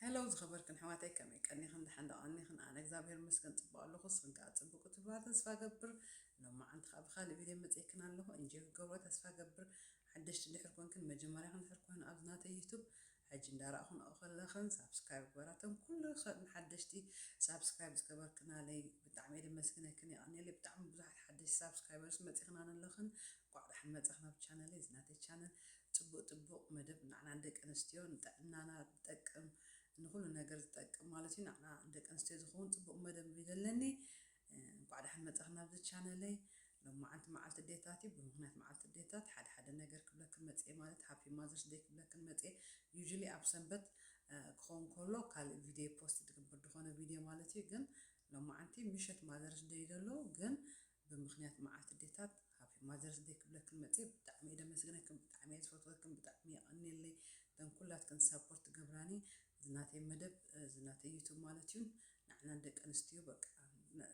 Hello ዝኸበርክን ኣሕዋተይ ከመይ ቀኒኽን ደሓን ዶ ቀኒኽን ኣነ እግዚኣብሔር ይመስገን ጽቡቅ ኣለኹ ንስኽን ከኣ ጽቡቅ ክትብላ ተስፋ ገብር ሎማዓንቲ ከኣ ብኻልእ ቪድዮ መጺኤክን ኣለኹ እንጆይ ክገብሮ ተስፋ ገብር ሓደሽቲ ድሕር ኮንክን መጀመርያኽን ድሕር ኮይኑ ኣብዚ ናተይ ዩቱብ ሕጂ እንዳራእኹን ከለኽን ሳብስክራይብ ግበራ እተን ኩልኽን ሓደሽቲ ሳብስክራይብ ዝገበርክናለይ ብጣዕሚ እየ ደመስግነክን የቀኒየለይ ብጣዕሚ ብዙሓት ሓደሽቲ ሳብስክራይበርስ መጺኽና ኣለኽን ቋዕ ዳሕን መጻኽን ኣብ ቻነለይ እዚ ናተይ ቻነል ጽቡቅ ጽቡቅ መደብ ናዕና ንደቂ ኣንስትዮ ንጥዕናና ዝጠቅም ንኩሉ ነገር ዝጠቅም ማለት እዩ ናዕና ንደቂ ኣንስትዮ ዝከውን ጽቡቅ መደብ እዩ ዘለኒ እንኳዕ ዳሓን መጻኪ ናብዚ ቻነለይ ሎማዓንቲ ማዓልቲ ኣዴታት እዩ ብምክንያት ማዓልቲ ኣዴታት ሓደ ሓደ ነገር ክብለክን መጽየ ማለት ሃፒ ማዘርስ ደይ ክብለክን መጽየ ዩዥሊ ኣብ ሰንበት ክከውን ከሎ ካልእ ቪድዬ ፖስት ድግብር ድኮነ ቪድዬ ማለት እዩ ግን ሎማዓንቲ ምሸት ማዘርስ ደይ ዘሎ ግን ብምክንያት መዓልቲ ዴታት ሃፒ ማዘርስ ደይ ክብለክን መጽየ ብጣዕሚ እየ ደመስግነክን ብጣዕሚ እየ ዝፈትወክን ብጣዕሚ የቀንየለይ እተን ኩላትክን ሳፖርት ትገብራኒ እዚ ናተይ መደብ እዚ ናተይ ዩቱብ ማለት እዩ ንዓና ንደቂ ኣንስትዮ በቃ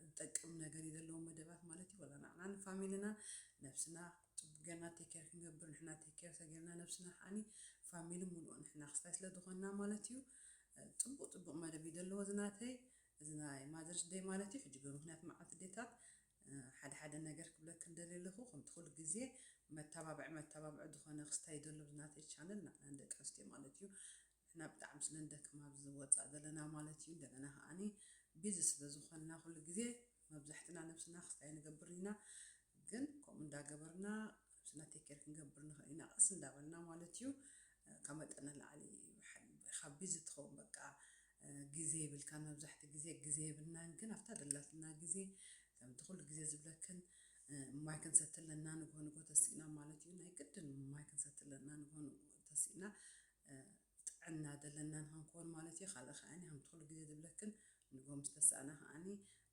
ዝጠቅም ነገር እዩ ዘለዎ መደባት ማለት እዩ ወላ ንዓና ንፋሚልና ነብስና ጽቡቅ ጌርና ቴክ ኬር ክንገብር ንሕና ቴክ ኬር ተጌርና ነብስና ከዓኒ ፋሚሊ ምሉእ ንሕና ክስታይ ስለ ዝኾንና ማለት እዩ ጽቡቅ ጽቡቅ መደብ እዩ ዘለዎ እዚ ናተይ እዚ ናይ ማዘርስ ደይ ማለት እዩ ሕጂ ብምክንያት መዓልቲ ኣዴታት ሓደ ሓደ ነገር ክብለክን ደልየ ኣለኩ ከምቲ ኩሉ ግዜ መታባብዒ መታባብዒ ዝኮነ ክስታይ ይደሉ ኣብዚ ናተይ ቻነል ንሕና ንደቂ ኣንስትዮ ማለት እዩ ንሕና ብጣዕሚ ስለ ንደክም ኣብዚ ወጻእ ዘለና ማለት እዩ እንደገና ከኣኒ ቢዚ ስለ ዝኮንና ኩሉ ግዜ መብዛሕትና ነብስና ክስታይ ንገብር ኢና ግን ከምኡ እንዳገበርና ነብስና take care ክንገብር ንኽእል ኢና ቀስ እንዳበልና ማለት እዩ ካብ መጠን ንላዕሊ ኢኻ ቢዚ ትኸውን በቃ ግዜ የብልካን መብዛሕትኡ ግዜ ግዜ የብልናን ግን ኣብታ ዘላትና ግዜ ከምቲ ኩሉ ግዜ ዝብለክን ማይ ክንሰቲ ኣለና ንግሆ ንግሆ ተሲእና ማለት እዩ ናይ ግድን ማይ ክንሰቲ ኣለና ንግሆ ንግሆ ተሲእና ጥዕና ዘለና ንክንከውን ማለት እዩ ካልእ ከዓኒ ከምቲ ኩሉ ግዜ ዝብለክን ንግሆ ምስ ተሳእና ከዓኒ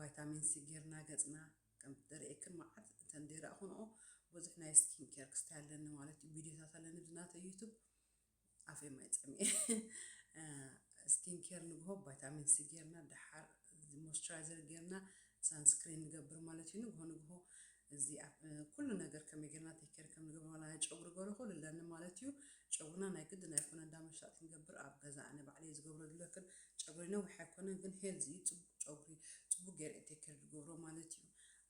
ቫይታሚን ሲ ጌርና ገጽና ከም ደርእየክን መዓት እተን ደይረእኹንኦ ብዙሕ ናይ ስኪን ኬር ክስታይ ኣለኒ ማለት እዩ ቪድዮታት ኣለኒ ኣብዚ ናተይ ዩቱብ ኣፈይ ማይ ጸሚኤ ስኪን ኬር ንግሆ ቫይታሚን ሲ ጌርና ደሓር ሞይስቸራይዘር ጌርና ሳንስክሪን ንገብር ማለት እዩ ንግሆ ንግሆ እዚ ኩሉ ነገር ከመይ ጌርና ቴኬር ከም ንገብር ዋላ ናይ ጨጉሪ ገሩ ኩሉ ኣለኒ ማለት እዩ ጨጉርና ናይ ግድን ኣይኮነ እንዳ መሽጣ ክንገብር ኣብ ገዛ ኣነ ባዕለይ ዝገብሮ ዝለክን ጨጉረይ ነዊሕ ኣይኮነን ግን ሄልዚ እዩ ጽቡቅ ጨጉሪ ጽቡቅ ገይረ ቴኬር ድገብሮ ማለት እዩ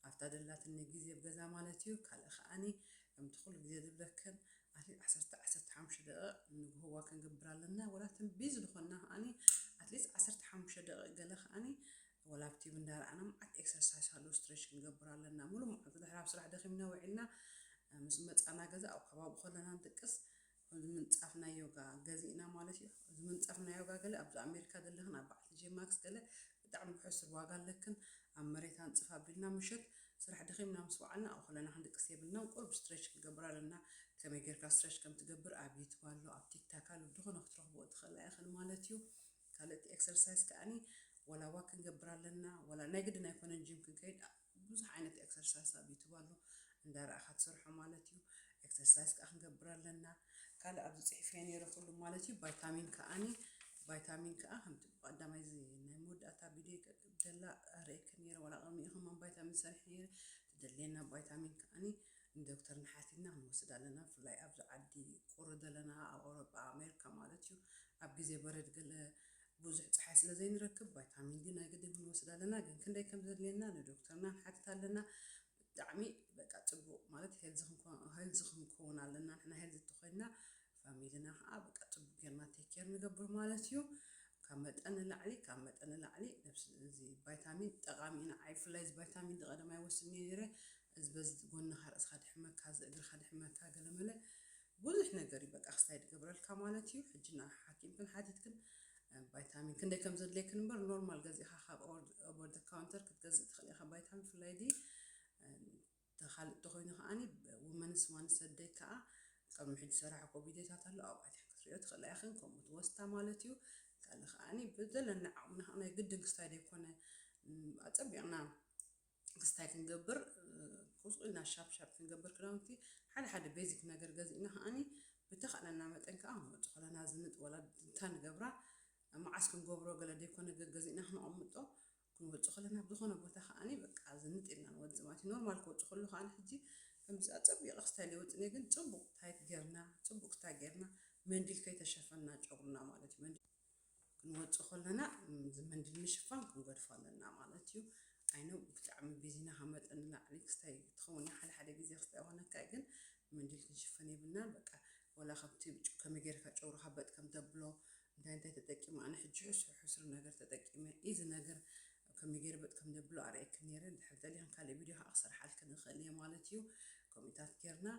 ኣብታ ደላትኒ ግዜ ብ ገዛ ማለት እዩ ካልእ ከኣኒ ከምቲ ኩሉ ግዜ ዝብለክን ኣትሊት ዓሰርተ ዓሰርተ ሓሙሽተ ደቂቅ ንግሆ ዋክ ክንገብር ኣለና ወላ እቶም ቢዚ ድኮና ከኣኒ ኣትሊት ዓሰርተ ሓሙሽተ ደቂቅ ገለ ከኣኒ ወላ ኣብ ቲቪ እንዳረኣና መዓት ኤክሰርሳይስ ኣሎ ስትሬች ክንገብር ኣለና ሙሉእ መዓልቲ ድሕሪ ኣብ ስራሕ ደኺምና ውዒልና ምስ መጻና ገዛ ኣብ ከባቢ ከለና ንድቅስ እዚ ምንጻፍ ናይ ዮጋ ገዚእና ማለት እዩ። እዚ ምንጸፍ ናይ ዮጋ ገለ ኣብዚ ኣሜሪካ ዘለኽን ኣብ በዓል ቲጄ ማክስ ገለ ብጣዕሚ ብሕሱር ዋጋ ኣለክን ኣብ መሬት ኣንጽፍ ኣቢልና ምሸት ስራሕ ደኺምና ምስ ወዓልና ኣብኡ ከለና ክንድቅስ የብልናን ቁሩብ ስትሬች ክንገብር ኣለና ከመይ ጌርካ ስትሬች ከም ትገብር ኣብ ዩቱብ ኣሎ ኣብ ቲክታክ ኣሎ ብድኾነ ክትረኽብኦ ትኽእላ ኢኽን ማለት እዩ ካልእቲ ኤክሰርሳይስ ከኣኒ ወላ ዋክ ክንገብር ኣለና ወላ ናይ ግድን ኣይኮነን ጂም ክንከይድ ብዙሕ ዓይነት ኤክሰርሳይስ ኣብ ዩቱብ ኣሎ እንዳረኣኻ ትሰርሖ ማለት እዩ ኤክሰርሳይስ ከኣ ክንገብር ኣለና ካልእ ኣብዚ ጽሒፈዮ ነይረ ኩሉ ማለት እዩ ቫይታሚን ከኣኒ ቫይታሚን ከኣ ከምቲ ብቀዳማይ እዚ ናይ መወዳእታ ቪድዮ ደላ ኣርእየክን ነይረ ዋላ ቅድሚኡ ከማን ቫይታሚን ሰሪሐ ነይረ ትደልየና ቫይታሚን ከኣኒ ንዶክተር ንሓቲትና ክንወስድ ኣለና ብፍላይ ኣብዚ ዓዲ ቁሪ ዘለና ኣብ ኣውሮጳ ኣሜሪካ ማለት እዩ ኣብ ግዜ በረድ ገለ ብዙሕ ጸሓይ ስለ ዘይንረክብ ቫይታሚን ዲ ናይ ግድን ክንወስድ ኣለና ግን ክንደይ ከም ዘድልየና ንዶክተርና ንሓትት ኣለና ብጣዕሚ በቃ ጽቡቅ ማለት ሄልዚ ክንኮን ሄልዚ ክንከውን ኣለና ንሕና ሄልዚ ተኮይንና ፋሚልና ከዓ በቃ ጽቡቅ ጌርና ቴክ ኬር ንገብር ማለት እዩ ካብ መጠን ንላዕሊ ካብ መጠን ንላዕሊ ነብሲ እዚ ቫይታሚን ጠቃሚ ኢና ዓይ ብፍላይ እዚ ቫይታሚን ዲ ቀደም ኣይወስድን እየ ነይረ እዚ በዚ ጎንኻ ርእስኻ ድሕመካ እዚ እግርኻ ድሕመካ ገለመለ ብዙሕ ነገር እዩ በቃ ክሳይድ ይገብረልካ ማለት እዩ ሕጂ ን ሓኪምክን ሓቲትክን ባይታሚን ክንደይ ከም ዘድልየክን እምበር ኖርማል ገዚእካ ካብ ኦቨር ዘ ካውንተር ክትገዝእ ትኽእል ኢኻ ባይታሚን ብፍላይ ዲ ተኻልእ እንተኾይኑ ከዓኒ ውመንስ ዋን ሰደይ ከዓ ቅድሚ ሕጂ ሰራሕኮ ቪድዮታት ኣሎ ኣብኡ ኣትያክን ክትሪኦ ትኽእላ ኢኽን ከምኡ ትወስታ ማለት እዩ ካልእ ከዓኒ ብዘለና ዓቕሚ ናይ ግድን ክስታይ ዘይኮነ ኣፀቢቕና ክስ ታይ ክንገብር ቁጽቁ ኢልና ሻፕ ሻፕ ክንገብር ክዳውንቲ ሓደ ሓደ ቤዚክ ነገር ገዚእና ከኣኒ ብተኻእለና መጠን ከኣ መወጽ ኾላና ዝንጥ ወላ ድንታ ንገብራ መዓስ ክንገብሮ ገለ ደይኮነ ገገዚእና ክነቐምጦ ክንወጽ ኾለና ኣብ ዝኾነ ቦታ ከኣኒ በቃ ዝንጥ ኢልና ንወጽ ማለት ኖርማል ክወጽ ከሉ ከኣ ሕጂ ከምዚ ኣጸቢቕ ክስታይ ለይወጽ ነይ ግን ጽቡቕ ታይት ጌርና ጽቡቕ ክስታይ ጌርና መንዲል ከይተሸፈና ጨጉርና ማለት እዩ ክንወጽእ ከለና እዚ መንድል ምሽፋን ክንገድፎ ኣለና ማለት እዩ። ኣይ ኖው ብጣዕሚ ቢዚና ካብ መጠን ንላዕሊ ክስታይ ትኸውን እያ ሓደ ሓደ ግዜ ክስታይ ይኾነካ እዩ ግን መንድል ክንሽፈን የብልናን በቃ ወላ ከምቲ ጭ- ከመይ ጌርካ ጨጉርካ በጥ ከም ተብሎ እንታይ እንታይ ተጠቂመ ኣነ ሕጂ ሕሱር ሕሱር ነገር ተጠቂመ እዚ ነገር ከመይ ጌረ በጥ ከም ዘብሎ ኣርእየክን ነይረ ድሕር ደሊኽን ካልእ ቪድዮ ከዓ ክሰርሓልክን እኽእል እየ ማለት እዩ ከምኡታት ጌርና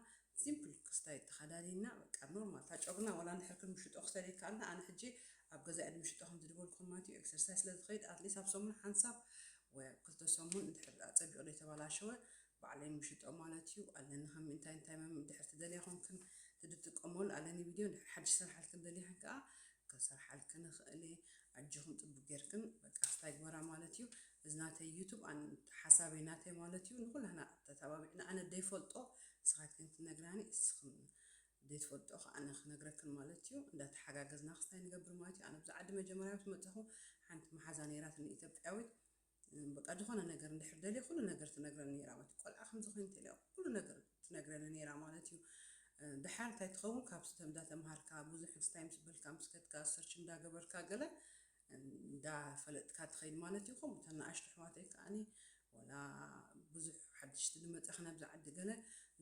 ሲምፕል ክስታይ ተካዳዲና በቃ ኖርማል እታ ጮግና ወላ እንድሕር ክንምሽጦ ክሰድ ይካኣልና ኣነ ሕጂ ኣብ ገዛይ እንምሽጦ ከምዚ ድበልኩም ማለት እዩ ኤክሰርሳይስ ስለ ዝከይድ ኣትሊስ ኣብ ሰሙን ሓንሳብ ወይ ኣብ ክልተ ሰሙን እንድሕር ኣጸቢቁ ዘይተባላሸወ ባዕለይ ምሽጦ ማለት እዩ ኣለኒ ከም እንታይ እንታይ መም እንድሕር ትደልያ ኮንክን ትድጥቀመሉ ኣለኒ ቪድዮ እንድሕር ሓድሽ ሰርሓልክን ደሊክን ከኣ ከሰርሓልክን እክእል እየ ኣጆክን ጥቡቅ ጌርክን በቃ ክስታይ ግበራ ማለት እዩ እዚ ናተይ ዩቱብ ኣን ሓሳበይ ናተይ ማለት እዩ ንኩላህና ተታባቢዕና ኣነ ደይፈልጦ ንስኻትክን ትነግራኒ እስኽን ዘይትፈልጥኦ ከኣ ኣነ ክነግረክን ማለት እዩ እንዳ ተሓጋገዝና ክስታይ ንገብር ማለት እዩ ኣነ ብዚ ዓዲ መጀመርያ ምስ መጸኹ ሓንቲ መሓዛ ነይራትኒ ኢትዮጵያዊት በቃ ዝኾነ ነገር እንድሕር ደልየ ኩሉ ነገር ትነግረኒ ነይራ ማለት ቆልዓ ከምዚ ኮይኑ ተልያ ኩሉ ነገር ትነግረኒ ነይራ ማለት እዩ ድሓር እንታይ ትኸውን ካብ ስተ እንዳተምሃርካ ብዙሕ ስታይ ምስ በልካ ምስ ከድካ ሰርች እንዳገበርካ ገለ እንዳ ፈለጥካ ትኸይድ ማለት ኢኹም እተን ናኣሽቱ ኣሕዋተይ ከኣ ዋላ ብዙሕ ሓድሽቲ ድመጻኽን ኣብዚ ዓዲ ገለ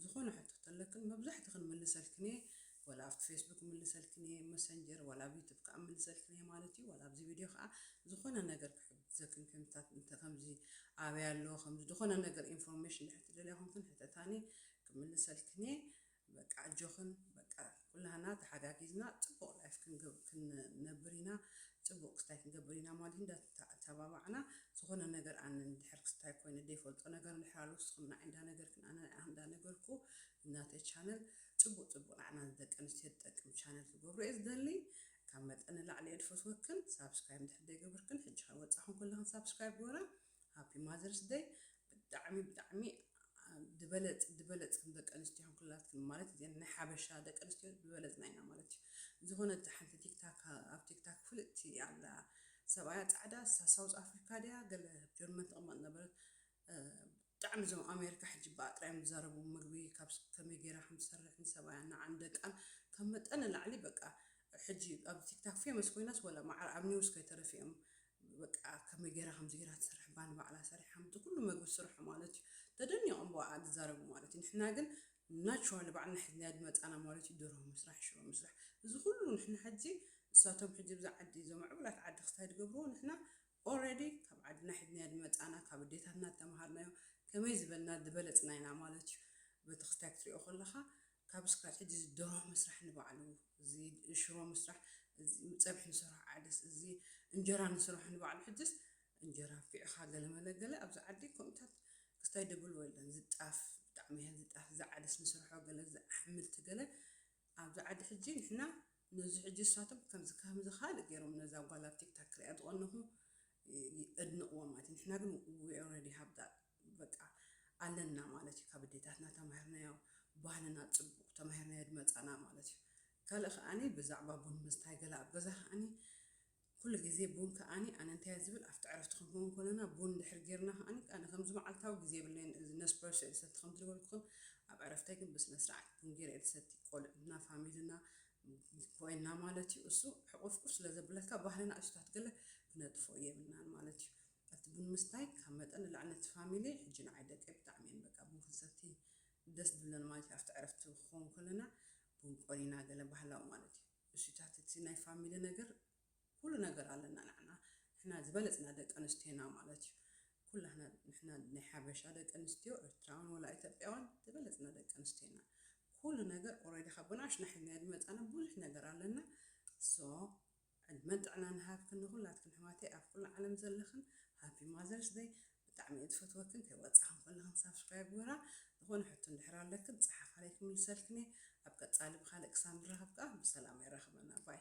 ዝኾነ ሕቶ ተለክን መብዛሕትኽን ምልሰልክን እየ ዋላ ኣብቲ ፌስቡክ ምልሰልክን እየ መሰንጀር ዋላ ኣብ ዩቱብ ከኣ ምልሰልክን እየ ማለት እዩ ዋላ ኣብዚ ቪድዮ ከኣ ዝኾነ ነገር ክሕግዘክን ከምታት እንተ ከምዚ ኣበይ ኣሎ ከምዚ ዝኾነ ነገር ኢንፎርሜሽን ድሕር ትደልያ ኮንክን ሕተታኒ ክምልሰልክን እየ በቃ ኣጆኽን በቃ ኩላህና ተሓጋጊዝና ጽቡቅ ላይፍ ክንነብር ኢና ጽቡቅ ክስታይ ክንገብር ኢና ማለት እንዳ ተባባዕና ዝኾነ ነገር ኣነ እንድሕር ክስታይ ኮይነ ዘይፈልጦ ነገር እንድሕር ኣሎ ንስኹም ንዓይ እንዳ ነገርክን ኣነ ንዓኽ እንዳ ነገርኩ ናተይ ቻነል ጽቡቅ ጽቡቅ ንዓና ንደቂ ኣንስትዮ ዝጠቅም ቻነል ክገብሮ እየ ዝደሊ ካብ መጠን ንላዕሊ እየ ዝፈትወክን ሳብስክራይብ እንድሕር ዘይገበርክን ሕጂ ከይወጻኹም ኩልኽን ሳብስክራይብ ግበራ ሃፒ ማዘርስ ደይ ብጣዕሚ ብጣዕሚ ድበለጽ ድበለጽ ከም ደቂ ኣንስትዮ ኩላትክን ማለት እዘን ናይ ሓበሻ ደቂ ኣንስትዮ ድበለጽና ኢና ማለት እዩ ዝኾነት ሓንቲ ቲክታክ ኣብ ቲክታክ ፍልጥቲ ኣላ ሰብኣያ ጻዕዳ ንሳ ሳውዝ ኣፍሪካ ድያ ገለ ኣብ ጀርመን ትቕመጥ ነበረት ብጣዕሚ እዞም ኣሜሪካ ሕጂ ብኣ ጥራይ እዮም ዝዛረቡ ምግቢ ካብ ከመይ ጌራ ከም ትሰርሕ ንሰብኣያ ንዓን ደቃን ካብ መጠን ንላዕሊ በቃ ሕጂ ኣብ ቲክታክ ፌመስ ኮይናስ ወላ ማዕረ ኣብ ኒውስ ከይተረፊኦም በቃ ከመይ ጌራ ከምዚ ጌራ ትሰርሕ እባ ንባዕላ ሰሪሓ ምእንቲ ኩሉ መግቢ ትስርሖ ማለት እዩ ተደኒቆም ብኣኣ ዝዛረቡ ማለት እዩ ንሕና ግን ናቹራሊ ባዕልና ሒዝናያ ዝመጻና ማለት እዩ ደርሆ ምስራሕ ሽሮ ምስራሕ እዚ ኩሉ ንሕና ሕጂ ንሳቶም ሕጂ እብዚ ዓዲ እዞም ምዕቡላት ዓዲ ክስታይ ዝገብርዎ ንሕና ኦረዲ ካብ ዓድና ሒዝናዮ ዝመጻና ካብ ኣዴታትና ዝተማሃርናዮ ከመይ ዝበልና ዝበለጽና ኢና ማለት እዩ በቲ ክስታይ ክትሪኦ ከለካ ካብ እስካብ ሕጂ እዚ ደርሆ ምስራሕ ንባዕሉ እዚ ሽሮ ምስራሕ እዚ ጸብሒ ንሰርሖ ዓደስ እዚ እንጀራ ንስርሖ ንባዕሉ ሕጅስ እንጀራ ኣንፊዕኻ ገለ መለ ገለ ኣብዚ ዓዲ ከምኡታት ክስታይ ደብልዎ የለን እዚ ጣፍ ብጣዕሚ እያ እዚ ጣፍ እዚ ዓደስ ንስርሖ ገለ እዚ ኣሕምልቲ ገለ ኣብዚ ዓዲ ሕጂ ንሕና ነዚ ሕጂ ንሳቶም ከምዚ ከምዚ ካልእ ገይሮም ነዛ ጓል ኣብ ቲክታክ ክሪኣ ዝቐነኹ የድንቕዎ ማለት እዩ። ንሕና ግን we already have that በቃ ኣለና ማለት እዩ። ካብ ኣዴታትና ተማሂርናዮ፣ ባህልና ጽቡቕ ተማሂርናዮ ድመጻና ማለት እዩ። ካልእ ከኣኒ ብዛዕባ ቡን ምስታይ ገለ ኣብ ገዛ ከኣኒ ኩሉ ግዜ ቡን ከኣኒ ኣነ እንታይ እየ ዝብል ኣብቲ ዕረፍቲ ክንከውን ከለና ቡን ድሕር ጌርና ከኣኒ ኣነ ከምዚ መዓልታዊ ግዜ የብለይን እዚ ነስፕረሶ እየ ዝሰቲ ከም ዝነበርኩኹም ኣብ ዕረፍተይ ግን ብስነ ስርዓት ቡን ጌረ እየ ዝሰቲ ቆልዑትና ፋሚልና ኮይና ማለት እዩ እሱ ሕቁፍቁፍ ስለዘብለካ ባህሪ ናእሽታት ገለ ክነጥፎ የብልናን ማለት እዩ እቲ ቡን ምስታይ ካብ መጠን ንላዕሊ ነቲ ፋሚሊ ሕጂ ንዓይ ደቀይ ብጣዕሚ እየን በቃ ቡን ክንሰቲ ደስ ድብለን ማለት እዩ ኣብቲ ዕረፍቲ ክኸውን ከለና ቡን ቆሊና ገለ ባህላዊ ማለት እዩ እሱታት እቲ ናይ ፋሚሊ ነገር ኩሉ ነገር ኣለና ናዕና ንሕና ዝበለጽና ደቂ ኣንስትዮ ኢና ማለት እዩ ኩላህና ንሕና ናይ ሓበሻ ደቂ ኣንስትዮ ኤርትራውን ወላ ኢትዮጵያውን ዝበለጽና ደቂ ኣንስትዮ ኢና ኩሉ ነገር ኦሬዲ ካብ ብናኣሽና ሒዝናዮ ዝመጻና ብዙሕ ነገር ኣለና so ዕድመን ጥዕናን ይሃብክን ንኩላትክን ኣሕዋተይ ኣብ ኩሉ ዓለም ዘለኽን ሃፒ ማዘርስ ደይ ብጣዕሚ እየ ዝፈትወክን ከይወፃክን ኩላክን ሳብስክራይብ ግበራ ዝኮነ ሕቶ እንድሕር ኣለክን ፀሓፋለይ ክምልሰልክን እየ ኣብ ቀፃሊ ብካልእ ክሳብ ንራከብ ከዓ ብሰላም የራክበና ባይ።